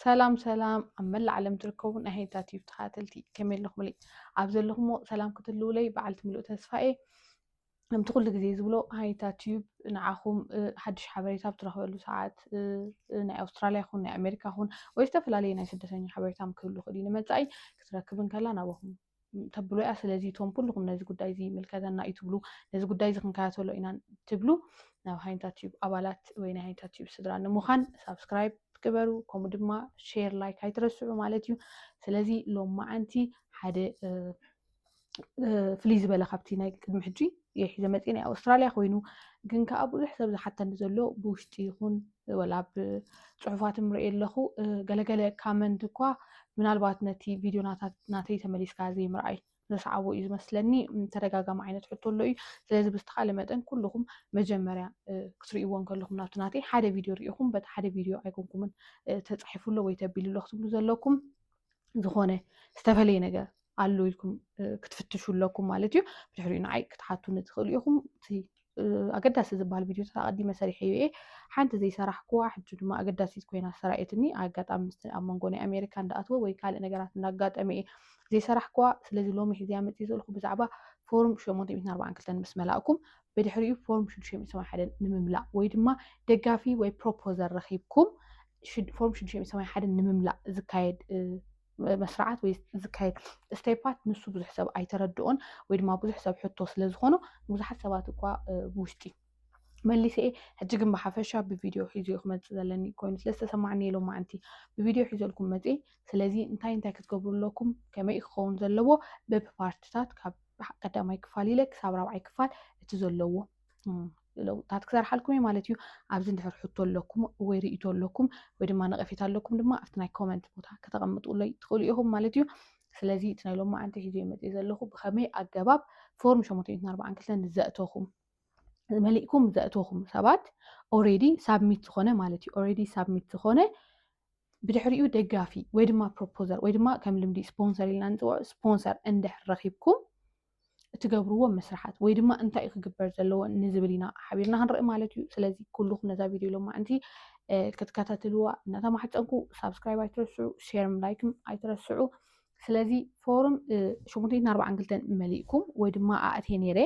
ሰላም ሰላም ኣብ መላእ ዓለም ትርከቡ ናይ ሄንታ ቲዩብ ተኸታተልቲ ከመይ ኣለኹምለይ ኣብ ዘለኹምዎ ሰላም ክትህልውለይ በዓልቲ ምሉእ ተስፋ እየ ከምቲ ኩሉ ግዜ ዝብሎ ሃይታ ቲዩብ ንዓኹም ሓድሽ ሓበሬታ ኣብ ትረኽበሉ ሰዓት ናይ ኣውስትራልያ ይኹን ናይ ኣሜሪካ ይኹን ወይ ዝተፈላለዩ ናይ ስደተኛ ሓበሬታ ክህሉ ክእል እዩ ንመፃኢ ክትረክብ እንከላ ናባኹም ተብሎ እያ ስለዚ እቶም ኩልኩም ነዚ ጉዳይ እዚ ይምልከተና እዩ ትብሉ ነዚ ጉዳይ እዚ ክንከታተሎ ኢና ትብሉ ናብ ሃይንታ ቲዩብ ኣባላት ወይ ናይ ሃይንታ ቲዩብ ስድራ ንምዃን ሳብስክራይብ ግበሩ ከምኡ ድማ ሼር ላይክ ኣይትረስዑ ማለት እዩ ስለዚ ሎም መዓንቲ ሓደ ፍልይ ዝበለ ካብቲ ናይ ቅድሚ ሕጂ እየ ሒዘ መፅእ ናይ ኣውስትራልያ ኮይኑ ግን ከዓ ብዙሕ ሰብ ዝሓተኒ ዘሎ ብውሽጢ ይኹን ወላ ብፅሑፋት ምርእ ኣለኹ ገለገለ ካመንት እኳ ምናልባት ነቲ ቪድዮ ናተይ ተመሊስካ ዘይምርኣይ ዘስዓቦ እዩ ዝመስለኒ ተደጋጋሚ ዓይነት ሕቶ ኣሎ እዩ ስለዚ ብዝተካለ መጠን ኩልኩም መጀመርያ ክትርእይዎ ከለኩም ናብቲ ናተይ ሓደ ቪድዮ ርኢኹም በቲ ሓደ ቪድዮ ኣይኮንኩምን ተፃሒፉ ኣሎ ወይ ተቢሉ ኣሎ ክትብሉ ዘለኩም ዝኾነ ዝተፈለየ ነገር ኣሎ ኢልኩም ክትፍትሹ ኣለኩም ማለት እዩ ብድሕሪኡ ንዓይ ክትሓቱኒ ትኽእሉ ኢኹም እቲ ኣገዳሲ ዝበሃል ቪድዮታት ኣቐዲመ ሰሪሐዮ እየ ሓንቲ ዘይሰራሕኩዋ ሕጂ ድማ ኣገዳሲት ኮይና ሰራኤትኒ ኣጋጣሚ ምስ ኣብ መንጎ ናይ ኣሜሪካ እንዳኣትወ ወይ ካልእ ነገራት እንዳጋጠመ እየ ዘይሰራሕኩዋ ስለዚ ሎሚ ሕዚያ መፅእ ዘለኹ ብዛዕባ ፎርም 842 ምስ መላእኩም ብድሕሪኡ ፎርም 681 ንምምላእ ወይ ድማ ደጋፊ ወይ ፕሮፖዘር ረኺብኩም ፎርም 681 ንምምላእ ዝካየድ መስርዓት ወይ ዝካየድ ስቴፓት ንሱ ብዙሕ ሰብ ኣይተረድኦን ወይ ድማ ብዙሕ ሰብ ሕቶ ስለ ዝኾኖ ንብዙሓት ሰባት እኳ ብውሽጢ መሊሰ እየ ሕጂ ግን ብሓፈሻ ብቪድዮ ሒዞ ክመፅእ ዘለኒ ኮይኑ ስለ ዝተሰማዕኒ የሎም ማዓንቲ ብቪድዮ ሒዘልኩም መፅ ስለዚ እንታይ እንታይ ክትገብሩ ኣለኩም ከመይ እዩ ክኸውን ዘለዎ በብፓርትታት ካብ ቀዳማይ ክፋል ኢለ ክሳብ ራብዓይ ክፋል እቲ ዘለዎ ለውጥታት ክሰርሓልኩም እየ ማለት እዩ ኣብዚ እንድሕር ሕቶ ኣለኩም ወይ ርእቶ ኣለኩም ወይ ድማ ነቐፌታ ኣለኩም ድማ ኣብቲ ናይ ኮመንት ቦታ ከተቐምጡለይ ትኽእሉ ኢኹም ማለት እዩ ስለዚ እቲ ናይ ሎማ ዓንቲ ሒዞ መፅ ዘለኹ ብኸመይ ኣገባብ ፎርም ሸሞንተ ሚእትን ኣርባዓን ክልተን ዘእተኹም መሊእኩም ዘእተኹም ሰባት ኦሬዲ ሳብሚት ዝኾነ ማለት እዩ ኦሬዲ ሳብሚት ዝኾነ ብድሕሪኡ ደጋፊ ወይ ድማ ፕሮፖዘር ወይ ድማ ከም ልምዲ ስፖንሰር ኢልና ንፅውዖ ስፖንሰር እንድሕር ረኺብኩም እትገብርዎም መስርሓት ወይ ድማ እንታይ እዩ ክግበር ዘለዎ ንዝብል ኢና ሓቢርና ክንርኢ ማለት እዩ ስለዚ ኩሉኩም ነዛ ቪድዮ ሎማዕንቲ ክትከታተልዋ እናተማሕፀንኩ ሳብስክራይብ ኣይትረስዑ ሼርም ላይክም ኣይትረስዑ ስለዚ ፎርም ሸሞንተይትን ኣርባዓን ክልተን መሊእኩም ወይ ድማ ኣእቴ ነይረ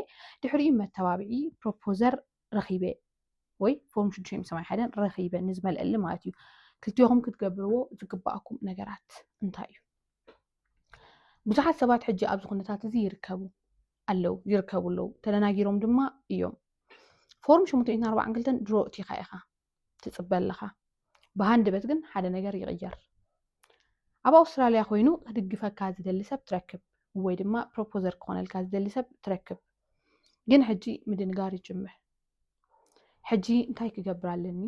ድሕሪኡ መተባብዒ ፕሮፖዘር ረኺበ ወይ ፎርም ሽዱሽተ ምስ ሰማንያ ሓደን ረኺበ ንዝመልአሊ ማለት እዩ ክልቴኹም ክትገብርዎ ዝግባኣኩም ነገራት እንታይ እዩ ብዙሓት ሰባት ሕጂ ኣብዚ ኩነታት እዚ ይርከቡ ኣለው ይርከቡ ኣለው ተደናጊሮም ድማ እዮም ፎርም ሽሙተ ሚእትን ኣርባዓን ክልተን ድሮ እቲኻ ኢኻ ትፅበ ኣለኻ ብሃንደበት ግን ሓደ ነገር ይቕየር ኣብ ኣውስትራልያ ኮይኑ ክድግፈካ ዝደሊ ሰብ ትረክብ ወይ ድማ ፕሮፖዘር ክኾነልካ ዝደሊ ሰብ ትረክብ ግን ሕጂ ምድንጋር ይጅምር ሕጂ እንታይ ክገብር ኣለኒ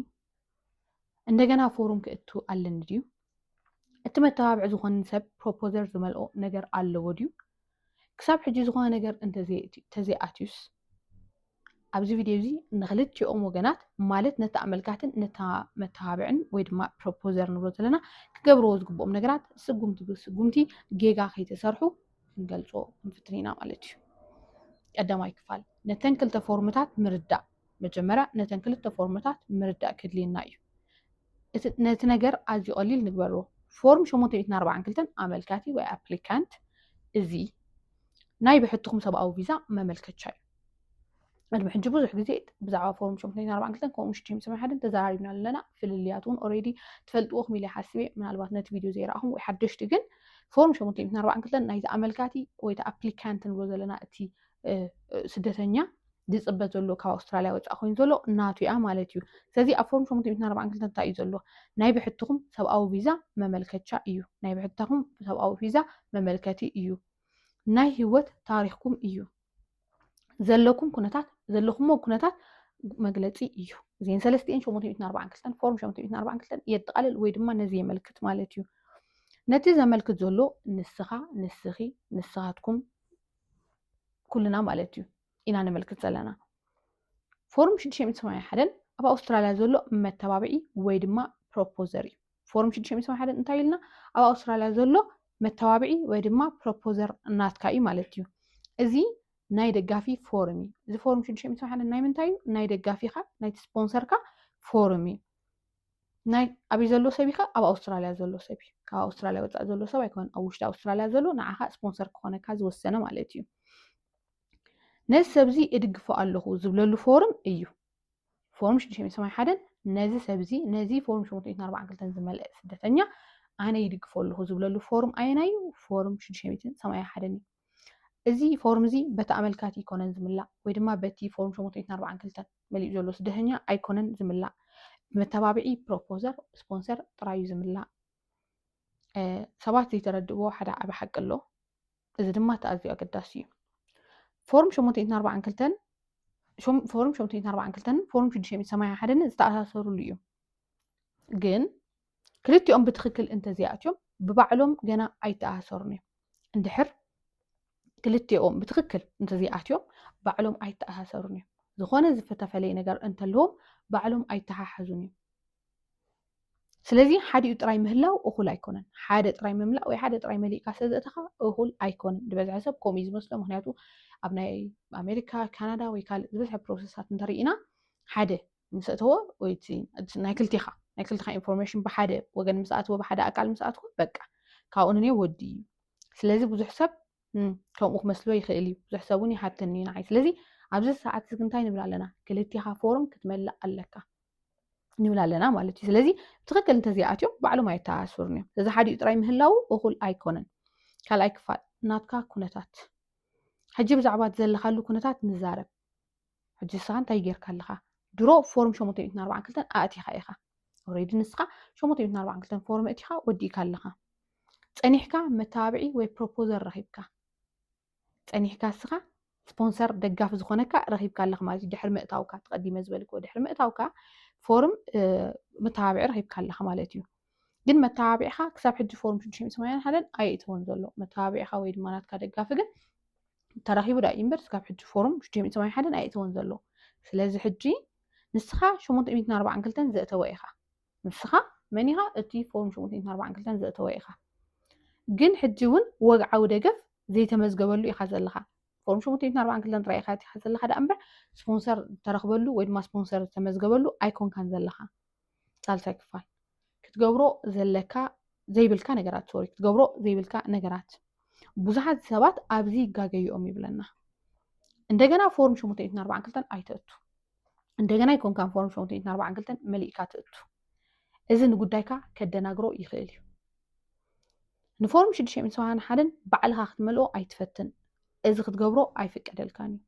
እንደገና ፎርም ክእቱ ኣለኒ ድዩ? እቲ መተባብዒ ዝኾን ሰብ ፕሮፖዘር ዝመልኦ ነገር ኣለዎ ድዩ? ክሳብ ሕጂ ዝኾነ ነገር እንተዘይኣትዩስ? ኣብዚ ቪድዮ እዚ ንክልቲኦም ወገናት ማለት ነቲ ኣመልካትን ነታ መተባብዕን ወይ ድማ ፕሮፖዘር ንብሎ ዘለና ክገብርዎ ዝግብኦም ነገራት ስጉምቲ ብስጉምቲ ጌጋ ከይተሰርሑ ክንገልፆ ክንፍትን ኢና ማለት እዩ። ቀዳማይ ክፋል ነተን ክልተ ፎርምታት ምርዳእ መጀመርያ ነተን ክልተ ፎርምታት ምርዳእ ከድልየና እዩ። ነቲ ነገር ኣዝዩ ቀሊል ንግበሮ። ፎርም 842 ኣመልካቲ ወይ ኣፕሊካንት እዚ ናይ ብሕትኹም ሰብኣዊ ቪዛ መመልከቻ እዩ። ቅድሚ ሕጂ ብዙሕ ግዜ ብዛዕባ ፎርም 842 ከምኡ 671 ተዘራሪብና ኣለና ፍልልያት እውን ኦሬዲ ትፈልጥዎ ክም ኢለ ሓስብ እየ ምናልባት ነቲ ቪድዮ ዘይረኣኹም ወይ ሓደሽቲ ግን ፎርም 842 ናይቲ ኣመልካቲ ወይ እቲ ኣፕሊካንት ንብሎ ዘለና እቲ ስደተኛ ዝፅበ ዘሎ ካብ ኣውስትራልያ ወፃኢ ኮይኑ ዘሎ ናቱ እያ ማለት እዩ። ስለዚ ኣብ ፎርም ሸሞንተ ሚእትን ኣርባዓን ክልተን እንታይ እዩ ዘሎ? ናይ ብሕትኹም ሰብኣዊ ቪዛ መመልከቻ እዩ። ናይ ብሕታኹም ሰብኣዊ ቪዛ መመልከቲ እዩ። ናይ ህይወት ታሪኽኩም እዩ። ዘለኩም ኩነታት ዘለኹሞ ኩነታት መግለፂ እዩ። እዚን ሰለስቲኤን ሸሞንተ ሚእትን ኣርባዓን ክልተን ፎርም ሸሞንተ ሚእትን ኣርባዓን ክልተን የጠቓልል ወይ ድማ ነዚ የመልክት ማለት እዩ። ነቲ ዘመልክት ዘሎ ንስኻ፣ ንስኺ፣ ንስኻትኩም ኩልና ማለት እዩ። ኢና ነመልክት ዘለና። ፎርም 681 ኣብ ኣውስትራልያ ዘሎ መተባብዒ ወይ ድማ ፕሮፖዘር እዩ። ፎርም 681 እንታይ ኢልና ኣብ ኣውስትራልያ ዘሎ መተባብዒ ወይ ድማ ፕሮፖዘር ናትካ እዩ ማለት እዩ። እዚ ናይ ደጋፊ ፎርም እዩ። እዚ ፎርም 681 ናይ ምንታይ እዩ? ናይ ደጋፊኻ ናይቲ ስፖንሰርካ ፎርም እዩ። ናይ ኣብይ ዘሎ ሰብ ኢኻ ኣብ ኣውስትራልያ ዘሎ ሰብ እዩ። ካብ ኣውስትራልያ ወፃእ ዘሎ ሰብ ኣይኮነን። ኣብ ውሽጢ ኣውስትራልያ ዘሎ ንዓኻ ስፖንሰር ክኾነካ ዝወሰነ ማለት እዩ። ነዚ ሰብዚ እድግፎ ኣለኹ ዝብለሉ ፎርም እዩ ፎርም 681 ነዚ ሰብዚ ነዚ ፎርም 842 ዝመልአ ስደተኛ ኣነ ይድግፎ ኣለኹ ዝብለሉ ፎርም ኣየናይ እዩ ፎርም 681 እዩ እዚ ፎርም እዚ በቲ ኣመልካቲ ይኮነን ዝምላእ ወይ ድማ በቲ ፎርም 842 መሊኡ ዘሎ ስደተኛ ኣይኮነን ዝምላእ ብመተባብዒ ፕሮፖዘር ስፖንሰር ጥራዩ ዝምላእ ሰባት ዘይተረድእዎ ሓደ ዓበ ሓቂ ኣሎ እዚ ድማ እቲ ኣዝዩ ኣገዳሲ እዩ ፎርም 842 ፎርም 842 ፎርም 681 ዝተኣሳሰርሉ እዩ ግን ክልቲኦም ብትክክል እንተዘይኣትዮም ብባዕሎም ገና ኣይተኣሳሰሩን እዮም እንድሕር ክልቲኦም ብትክክል እንተዘይኣትዮም ባዕሎም ኣይተኣሳሰሩን እዮም ዝኾነ ዝተፈለየ ነገር እንተለዎም ባዕሎም ኣይተሓሓዙን እዮም ስለዚ ሓዲኡ ጥራይ ምህላው እኹል ኣይኮነን ሓደ ጥራይ ምምላእ ወይ ሓደ ጥራይ መሊእካ ስለዘእተኻ እኹል ኣይኮነን ዝበዝሐ ሰብ ከምኡ እዩ ዝመስሎ ምክንያቱ ኣብ ናይ ኣሜሪካ ካናዳ ወይ ካልእ ዝበዝሐ ፕሮሰሳት እንተርኢና ሓደ ምስ እተወ ወይ ናይ ክልቲኻ ናይ ክልቲኻ ኢንፎርሜሽን ብሓደ ወገን ምስ ኣትወ ብሓደ ኣካል ምስ ኣትወ በቃ ካብኡ ንኔ ወዲ እዩ ስለዚ ብዙሕ ሰብ ከምኡ ክመስሎ ይኽእል እዩ ብዙሕ ሰብ እውን ይሓተኒ እዩ ንዓይ ስለዚ ኣብዚ ሰዓት እዚ እንታይ ንብል ኣለና ክልቲኻ ፎርም ክትመልእ ኣለካ ንብል ኣለና ማለት እዩ ስለዚ ብትክክል እንተዘይኣትዮም ባዕሎም ኣይተኣስሩን እዮም እዚ ሓዲኡ ጥራይ ምህላው እኹል ኣይኮነን ካልኣይ ክፋል ናትካ ኩነታት ሕጂ ብዛዕባ እቲ ዘለካሉ ኩነታት ንዛረብ ሕጂ ንስኻ እንታይ ጌርካ ኣለካ ድሮ ፎርም ሸሞንተ ሚእትን ኣርባዓን ክልተን ኣእቲኻ ኢኻ ኦሬዲ ንስኻ ሸሞንተ ሚእትን ኣርባዓን ክልተን ፎርም እቲኻ ወዲእካ ኣለኻ ፀኒሕካ መተባብዒ ወይ ፕሮፖዘር ረኺብካ ጸኒሕካ እስኻ ስፖንሰር ደጋፊ ዝኾነካ ረኺብካ ኣለኽ ማለት እዩ ድሕሪ ምእታውካ ተቐዲመ ዝበልክዎ ድሕሪ ምእታውካ ፎርም መተባብዒ ረኺብካ ኣለኻ ማለት እዩ ግን መተባብዒኻ ክሳብ ሕጂ ፎርም ሽዱሽተ ሚእቲ ሰማንያን ሓደን ኣየእተወን ዘሎ መተባብዒኻ ወይ ድማ ናትካ ደጋፊ ግን ተረኺቡ ዳ እዩ እምበር ክሳብ ሕጂ ፎርም ሽዱሽተ ሚእቲ ሰማንያን ሓደን ኣየእተወን ዘሎ ስለዚ ሕጂ ንስኻ ሸሞንተ ሚእትን ኣርባዓን ክልተን ዘእተወ ኢኻ ንስኻ መን ኢኻ እቲ ፎርም ሽሙንተይት ኣርባዓን ክልተን ዘእተወ ኢኻ ግን ሕጂ እውን ወግዓዊ ደገፍ ዘይተመዝገበሉ ኢኻ ዘለኻ ፎርም ሽሙንተይት ኣርባዓን ክልተን ጥራይ ኢኻ እቲኻ ዘለኻ ደኣ እምበር ስፖንሰር ዝተረኽበሉ ወይ ድማ ስፖንሰር ዝተመዝገበሉ ኣይኮንካን ዘለኻ ሳልሳይ ክፋል ክትገብሮ ዘለካ ዘይብልካ ነገራት ሶሪ ክትገብሮ ዘይብልካ ነገራት ብዙሓት ሰባት ኣብዚ ይጋገዩኦም ይብለና እንደገና ፎርም ሽሙንተይት ኣርባዓን ክልተን ኣይተእቱ እንደገና ይኮንካ ፎርም ሸውንትን ኣርባዓን ክልተን መሊእካ ትእቱ እዚ ንጉዳይካ ከደናግሮ ይኽእል እዩ ንፎርም ሽዱሽተ ሚእትን ሰብዓን ሓደን ባዕልኻ ክትመልኦ ኣይትፈትን እዚ ክትገብሮ ኣይፍቀደልካን እዩ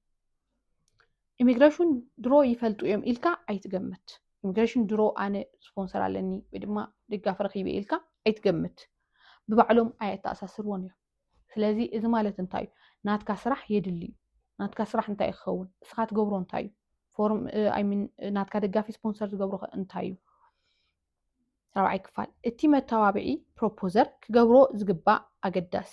ኢሚግሬሽን ድሮ ይፈልጡ እዮም ኢልካ ኣይትገምት ኢሚግሬሽን ድሮ ኣነ ስፖንሰር ኣለኒ ወይ ድማ ድጋፍ ረኪበ ኢልካ ኣይትገምት ብባዕሎም ኣየተኣሳስርዎን እዮም ስለዚ እዚ ማለት እንታይ እዩ ናትካ ስራሕ የድሊ እዩ ናትካ ስራሕ እንታይ እዩ ክኸውን እስኻ ትገብሮ እንታይ እዩ ፎርም ኣይሚን ናትካ ደጋፊ ስፖንሰር ዝገብሮ እንታይ እዩ ራብዓይ ክፋል እቲ መተባብዒ ፕሮፖዘር ክገብሮ ዝግባእ ኣገዳሲ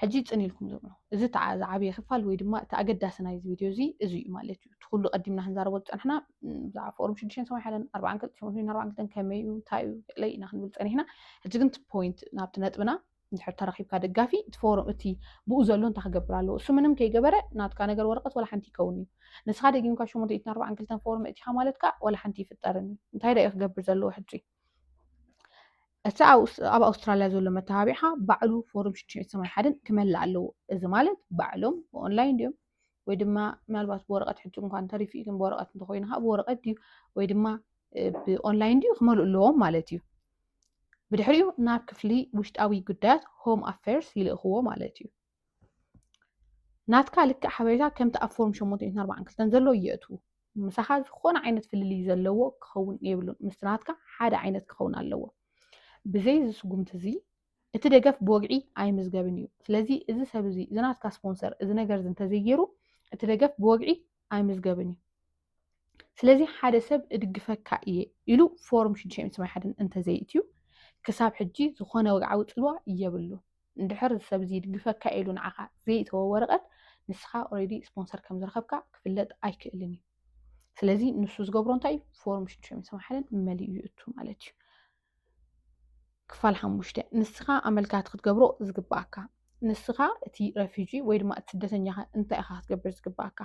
ሕጂ ፅን ኢልኩም ዝብሎ እዚ ዝዓበየ ክፋል ወይ ድማ እቲ ኣገዳሲ ናይዚ ቪድዮ እዚ እዚ እዩ ማለት እዩ እቲ ኩሉ ቀዲምና ክንዛረቦ ዝፀናሕና ብዛዕባ ፎርም ሽዱሽተን ሰማይ ሓለን ኣርባዓን ክልተ ሸሞንተን ኣርባዓን ክልተን ከመይ እዩ እንታይ እዩ ገለ ኢና ክንብል ፀኒሕና ሕጂ ግን እቲ ፖይንት ናብቲ ነጥብና እንድሕር ተረኪብካ ደጋፊ እቲ ፎርም እቲ ብኡ ዘሎ እንታይ ክገብር ኣለዎ እሱ ምንም ከይገበረ ናትካ ነገር ወረቀት ዋላ ሓንቲ ይከውን እዩ ንስኻ ደጊምካ ሸሞንተ ኢትን ኣርባዓን ክልተን ፎርም እቲኻ ማለት ከዓ ዋላ ሓንቲ ይፍጠርን እዩ እንታይ ዳ እዩ ክገብር ዘለዎ ሕጂ እቲ ኣብ ኣውስትራልያ ዘሎ መተባቢዕኻ ባዕሉ ፎርም ሽዱሽተ ሰማይ ሓደን ክመልእ ኣለዎ እዚ ማለት ባዕሎም ብኦንላይን ድዮም ወይ ድማ ምናልባት ብወረቐት ሕጂ እንኳን ተሪፉ እዩ ግን ብወረቐት እንተኮይኑ ከዓ ብወረቐት ድዩ ወይ ድማ ብኦንላይን ድዩ ክመልኡ ኣለዎም ማለት እዩ ብድሕሪኡ ናብ ክፍሊ ውሽጣዊ ጉዳያት ሆም ኣፌርስ ይልእኽዎ ማለት እዩ ናትካ ልክዕ ሓበሬታ ከምቲ ኣብ ፎርም 742 ዘሎ የእትዉ ምሳኻ ዝኾነ ዓይነት ፍልልይ ዘለዎ ክኸውን የብሉን ምስቲ ናትካ ሓደ ዓይነት ክኸውን ኣለዎ ብዘይ ዝስጉምቲ እዚ እቲ ደገፍ ብወግዒ ኣይምዝገብን እዩ። ስለዚ እዚ ሰብ እዚ እዚ ናትካ ስፖንሰር እዚ ነገር እዚ እንተዘይገይሩ እቲ ደገፍ ብወግዒ ኣይምዝገብን እዩ። ስለዚ ሓደ ሰብ እድግፈካ እየ ኢሉ ፎርም ሽዱሽተ ሚእቲ ሰማንያ ሓደን እንተዘይእትዩ ክሳብ ሕጂ ዝኾነ ወግዓዊ ጽልዋ የብሉ። እንድሕር እዚ ሰብ እዚ ይድግፈካ ኢሉ ንዓኻ ዘይእተወ ወረቐት ንስኻ ኦልሬዲ ስፖንሰር ከም ዝረኸብካ ክፍለጥ ኣይክእልን እዩ። ስለዚ ንሱ ዝገብሮ እንታይ እዩ ፎርም ሽዱሽተ ሚእቲ ሰማንያ ሓደን መሊኡ ይእቱ ማለት እዩ። ክፋል ሓሙሽተ ንስኻ ኣመልካቲ ክትገብሮ ዝግባኣካ ንስኻ እቲ ረፊጂ ወይ ድማ እቲ ስደተኛ እንታይ ኢኻ ክትገብር ዝግባኣካ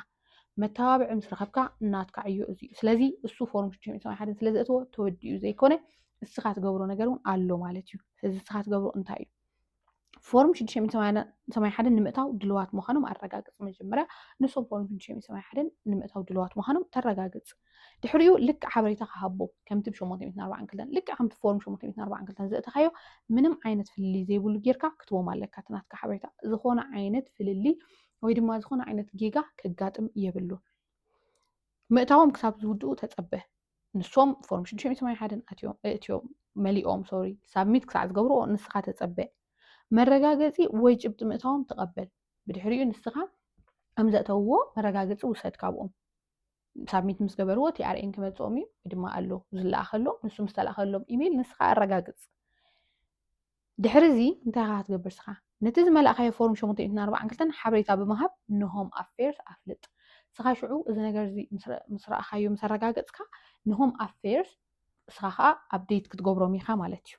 መተባብዒ ምስ ረኸብካ ናትካ ዕዮ እዚ እዩ ስለዚ እሱ ፎርም ሽዱሽተ ሚእቲ ሓደ ስለ ዘእትዎ ተወዲኡ ዘይኮነ ንስኻ ትገብሮ ነገር እውን ኣሎ ማለት እዩ ስለዚ ንስኻ ትገብሮ እንታይ እዩ ፎርም 681 ንምእታው ድልዋት ምዃኖም ኣረጋግፅ መጀመርያ ንሶም ፎርም 681 ንምእታው ድልዋት ምዃኖም ተረጋግፅ ድሕሪኡ ልክዕ ሓበሬታ ክሃቦ ከምቲ ብ842 ልክዕ ከምቲ ፎርም 842 ዘእተኻዮ ምንም ዓይነት ፍልልይ ዘይብሉ ጌርካ ክትቦም ኣለካ እቲ ናትካ ሓበሬታ ዝኾነ ዓይነት ፍልልይ ወይ ድማ ዝኾነ ዓይነት ጌጋ ከጋጥም የብሉ ምእታዎም ክሳብ ዝውድኡ ተፀበ ንሶም ፎርም ሽዱሽተ ሚእቲ ሰማንያ ሓደን ኣትዮም እትዮም መሊኦም ሶሪ ሳብሚት ክሳዕ ዝገብርዎ ንስኻ ተጸበ መረጋገጺ ወይ ጭብጢ ምእታዎም ተቐበል ብድሕሪኡ ንስኻ ከም ዘእተውዎ መረጋገጺ ውሰድ ካብኦም ሳብሚት ምስ ገበርዎ ቲኣርኤን ክመጽኦም እዩ ወይ ድማ ኣሎ ዝለኣኸሎም ንሱ ምስ ተላእኸሎም ኢሜይል ንስኻ ኣረጋግጽ ድሕሪ እዚ እንታይ ኢኻ ክትገብር እስኻ? ነቲ ዝመላእካዮ ፎርም ሸሞንተ ሚእትን ኣርባዓን ክልተን ሓበሬታ ብምሃብ ንሆም ኣፌርስ ኣፍልጥ። እስኻ ሽዑ እዚ ነገር እዚ ምስ ረኣኻዮ ምስ ኣረጋገጽካ ንሆም ኣፌርስ እስኻ ከኣ ኣብዴት ክትገብሮም ኢኻ ማለት እዩ።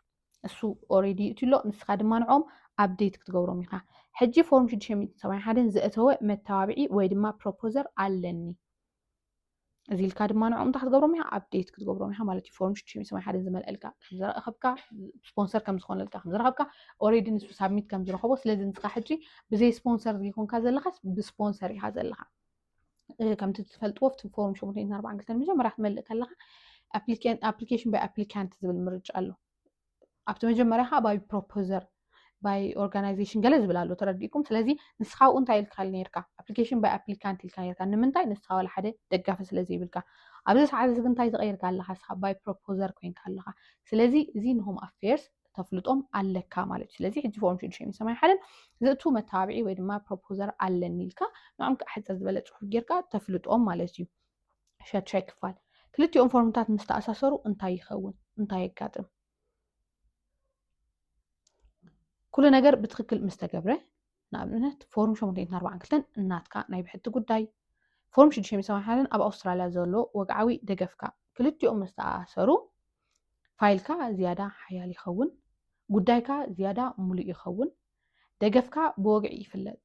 እሱ ኦሬዲ ይእትዩ ኣሎ ንስኻ ድማ ንዕኦም ኣብዴት ክትገብሮም ኢኻ። ሕጂ ፎርም ሽዱሽተ ሚእትን ሰብዓን ሓደን ዘእተወ መተባብዒ ወይ ድማ ፕሮፖዘር ኣለኒ። እዚ ኢልካ ድማ ንዕኦም እንታይ ክትገብሮም ኢኻ ኣብዴት ክትገብሮም ኢኻ ማለት እዩ ፎርም ሽዱሽተ ሰማይ ሓደን ዝመልአልካ ከም ዝረኸብካ ስፖንሰር ከም ዝኾነልካ ከም ዝረኸብካ ኦሬዲ ንሱ ሳብሚት ከም ዝረኸቦ ስለዚ ንስኻ ሕጂ ብዘይ ስፖንሰር ዘይኮንካ ዘለኻስ ብስፖንሰር ኢኻ ዘለኻ ከምቲ ትፈልጥዎ ብቲ ፎርም ሸሞንተ ኣርባዕን ክልተን መጀመርያ ክትመልእ ከለኻ ኣፕሊኬሽን ባይ ኣፕሊካንት ዝብል ምርጫ ኣሎ ኣብቲ መጀመርያ ከዓ ባይ ፕሮፖዘር ባይ ኦርጋናይዜሽን ገለ ዝብል ኣሎ ተረዲእኩም ስለዚ ንስኻ ብኡ እንታይ ኢልካ ነርካ ኣፕሊኬሽን ባይ ኣፕሊካንት ኢልካ ነርካ ንምንታይ ንስኻ ዋላ ሓደ ደጋፊ ስለዘይብልካ ኣብዚ ሰዓት እዚ እንታይ ዝቀይርካ ኣለካ ንስኻ ባይ ፕሮፖዘር ኮይንካ ኣለካ ስለዚ እዚ ንሆም ኣፌርስ ተፍልጦም ኣለካ ማለት እዩ ስለዚ ሕጂ ፎርም ሽዱሽተ ሰማይ ሓደን ዝእቱ መተባብዒ ወይ ድማ ፕሮፖዘር ኣለኒ ኢልካ ንዕም ክዓ ሕፅር ዝበለ ፅሑፍ ጌርካ ተፍልጦም ማለት እዩ ሸድሻይ ክፋል ክልቲኦም ፎርምታት ምስ ተኣሳሰሩ እንታይ ይኸውን? እንታይ የጋጥም? ኩሉ ነገር ብትክክል ምስ ተገብረ ንኣብነት ፎርም 842 እናትካ ናይ ብሕቲ ጉዳይ ፎርም 681 ኣብ ኣውስትራልያ ዘሎ ወግዓዊ ደገፍካ ክልቲኦም ምስ ተኣሳሰሩ ፋይልካ ዝያዳ ሓያል ይኸውን፣ ጉዳይካ ዝያዳ ሙሉእ ይኸውን፣ ደገፍካ ብወግዒ ይፍለጥ።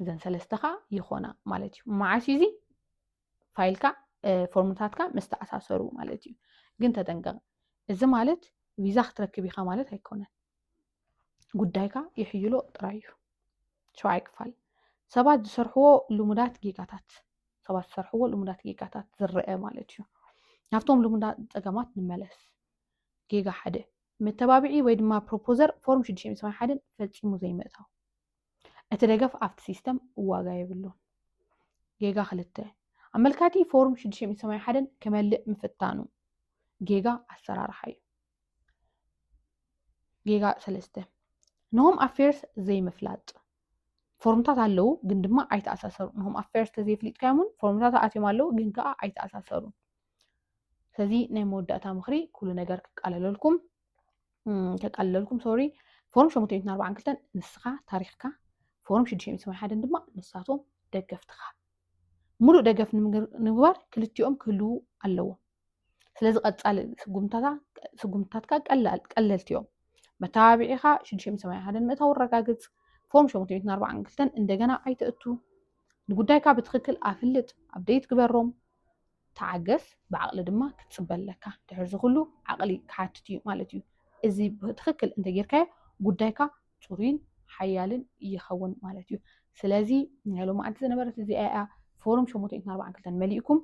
እዘን ሰለስተ ከዓ ይኾና ማለት እዩ መዓስ እዩ እዚ ፋይልካ ፎርምታትካ ምስ ተኣሳሰሩ ማለት እዩ ግን ተጠንቀቕ እዚ ማለት ቪዛ ክትረክብ ኢኻ ማለት ኣይኮነን ጉዳይካ ይሕይሎ ጥራይ እዩ ሸውዓይ ክፋል ሰባት ዝሰርሕዎ ልሙዳት ጌጋታት ሰባት ዝሰርሕዎ ልሙዳት ጌጋታት ዝረአ ማለት እዩ ናብቶም ልሙዳት ፀገማት ንመለስ ጌጋ ሓደ መተባብዒ ወይ ድማ ፕሮፖዘር ፎርም ሽዱሽተ ሓደን ፈፂሙ ዘይምእታው እቲ ደገፍ ኣብቲ ሲስተም ዋጋ የብሉን። ጌጋ ክልተ ኣመልካቲ ፎርም ሽዱሽተ ሚእቲ ሰማንያ ሓደን ክመልእ ምፍታኑ ጌጋ ኣሰራርሓ እዩ። ጌጋ ሰለስተ ንሆም ኣፌርስ ዘይምፍላጥ ፎርምታት ኣለዉ ግን ድማ ኣይተኣሳሰሩን። ንሆም ኣፌርስ ተዘይፍሊጥካዮምን ፎርምታት ኣትዮም ኣለዉ ግን ከዓ ኣይተኣሳሰሩን። ስለዚ ናይ መወዳእታ ምክሪ ኩሉ ነገር ክቃለለልኩም ከቃልለልኩም ሶሪ ፎርም 742 ንስኻ ታሪኽካ ፎርም 681 ድማ ንሳቶም ደገፍትኻ ሙሉእ ደገፍ ንምግባር ክልቲኦም ክህልው ኣለዎ ስለዚ ቀፃሊ ስጉምታትካ ቀለልቲ እዮም መተባቢዒኻ 681 ምእታው ረጋግፅ ፎርም 742 እንደገና ኣይተእቱ ንጉዳይካ ብትኽክል ኣፍልጥ፣ ኣብደይት ግበሮም፣ ተዓገስ፣ ብዓቕሊ ድማ ክትጽበ ኣለካ። ድሕሪ እዚ ኩሉ ዓቕሊ ክሓትት እዩ ማለት እዩ። እዚ ብትኽክል እንተጌርካዮ ጉዳይካ ጽሩይን ሓያልን ይኸውን ማለት እዩ። ስለዚ ናይ ሎማዓንቲ ዝነበረት እዚኣ እያ ፎርም ሸሞንተ ሚእትን ኣርባዓን ክልተን መሊእኩም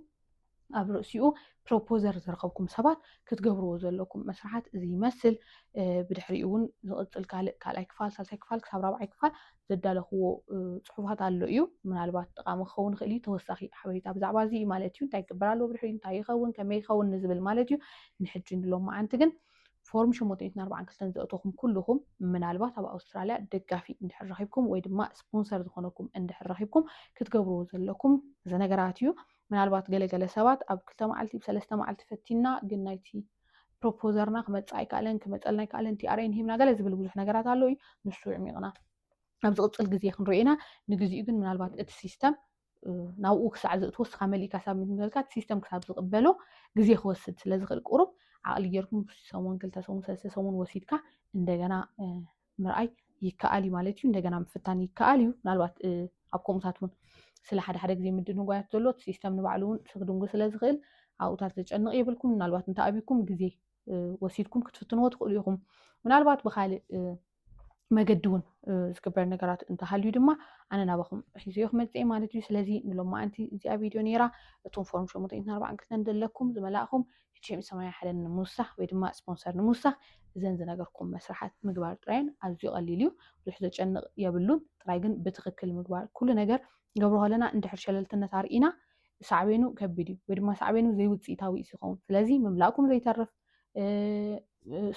ኣብ ርእሲኡ ፕሮፖዘር ዝረኸብኩም ሰባት ክትገብርዎ ዘለኩም መስርሓት እዚ ይመስል ብድሕሪኡ እውን ዝቕፅል ካልእ ካልኣይ ክፋል ሳልሳይ ክፋል ክሳብ ራብዓይ ክፋል ዘዳለኽዎ ፅሑፋት ኣሎ እዩ ምናልባት ጠቃሚ ክኸውን ይኽእል እዩ ተወሳኺ ሓበሬታ ብዛዕባ እዚ እዩ ማለት እዩ እንታይ ይግበር ኣለዎ ብድሕሪኡ እንታይ ይኸውን ከመይ ይኸውን ንዝብል ማለት እዩ ንሕጂ ንሎም መዓንቲ ግን ፎርም 742 ዘእተኹም ኩልኹም ምናልባት ኣብ ኣውስትራልያ ደጋፊ እንድሕር ረኺብኩም ወይ ድማ ስፖንሰር ዝኾነኩም እንድሕር ረኺብኩም ክትገብርዎ ዘለኩም እዚ ነገራት እዩ ምናልባት ገለ ገለ ሰባት ኣብ ክልተ መዓልቲ ብ ሰለስተ መዓልቲ ፈቲንና ግን ናይቲ ፕሮፖዘርና ክመጽእ ኣይከኣለን ክመጸልና ኣይከኣለን TRN ሂብና ገለ ዝብል ብዙሕ ነገራት ኣሎ እዩ ንሱ ዕሚቕና ኣብ ዝቕጽል ግዜ ክንሪኦ ኢና ንግዚኡ ግን ምናልባት እቲ ሲስተም ናብኡ ክሳዕ ዝእትዎ እስኻ መሊእካ ሳብ ምትምዘልካ እቲ ሲስተም ክሳብ ዝቕበሎ ግዜ ክወስድ ስለ ዝኽእል ቁሩብ ዓቕሊ ጌርኩም ሰሙን ክልተ ሰሙን ሰለስተ ሰሙን ወሲድካ እንደገና ምርኣይ ይከኣል እዩ ማለት እዩ። እንደገና ምፍታን ይከኣል እዩ። ምናልባት ኣብ ከምኡታት እውን ስለ ሓደ ሓደ ግዜ ምድንጓያት ዘሎ እቲ ሲስተም ንባዕሉ እውን ክድንጉ ስለ ዝኽእል ኣብኡታት ዘጨንቕ የብልኩም። ምናልባት እንተኣብኩም ግዜ ወሲድኩም ክትፍትንዎ ትኽእሉ ኢኹም። ምናልባት ብካልእ መገዲ እውን ዝግበር ነገራት እንተሃልዩ ድማ ኣነ ናባኹም ሒዘዮ ክመፅእ ማለት እዩ ስለዚ ንሎማዓንቲ እዚኣ ቪድዮ ነይራ እቶም ፎርም ሸሞንተ ሚእትን ኣርባዕን ክልተን ዘለኩም ዝመላእኹም ኤችኤም ሰማያዊ ሓደን ንምውሳኽ ወይ ድማ ስፖንሰር ንምውሳኽ እዘን ዝነገርኩም መስርሓት ምግባር ጥራየን ኣዝዩ ቀሊል እዩ ብዙሕ ዘጨንቕ የብሉን ጥራይ ግን ብትኽክል ምግባር ኩሉ ነገር ገብሮ ከለና እንድሕር ሸለልትነት ኣርኢና ሳዕቤኑ ከቢድ እዩ ወይ ድማ ሳዕቤኑ ዘይውፅኢታዊ እዩ ይኸውን ስለዚ ምምላእኩም ዘይተርፍ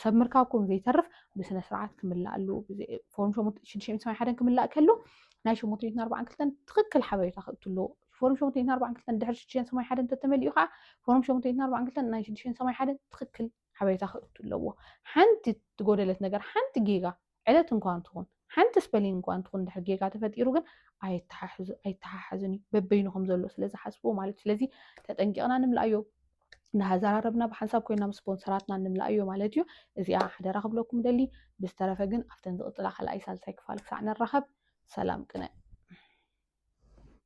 ሰብ ምርካብኩም ዘይተርፍ ብስነ ስርዓት ክምላእ ኣለዎ ፎርም ሽዱሽተ ሓደን ክምላእ ከሎ ናይ ሸሞንተ ሚእትን ኣርባዓን ክልተን ትኽክል ሓበሬታ ከእቱ ኣለዎ ፎርም ሸሞንተ ሚእትን ኣርባዓን ክልተን ድሕሪ ሽዱሽተን ሰማንያ ሓደን እንተተመሊኡ ከዓ ፎርም ሸሞንተ ሚእትን ኣርባዓን ክልተን ናይ ሽዱሽተን ሰማንያ ሓደን ትኽክል ሓበሬታ ክእቱ ኣለዎ። ሓንቲ ትጎደለት ነገር ሓንቲ ጌጋ ዕለት እንኳን ትኹን ሓንቲ ስፐሊንግ እንኳን ትኹን ድሕሪ ጌጋ ተፈጢሩ ግን ኣየተሓሕዙ- ኣይተሓሓዝን እዩ በበይኑ ከም ዘሎ ስለ ዝሓስብዎ ማለት እዩ። ስለዚ ተጠንቂቕና ንምልኣዮ እንዳሃዘራረብና ብሓንሳብ ኮይና ምስ ስፖንሰራትና ንምልኣዮ ማለት እዩ። እዚኣ ሓደራ ክብለኩም ደሊ። ብዝተረፈ ግን ኣብተን ዝቕፅላ ካልኣይ ሳልሳይ ክፋል ክሳዕ ንራኸብ ሰላም ቅነ።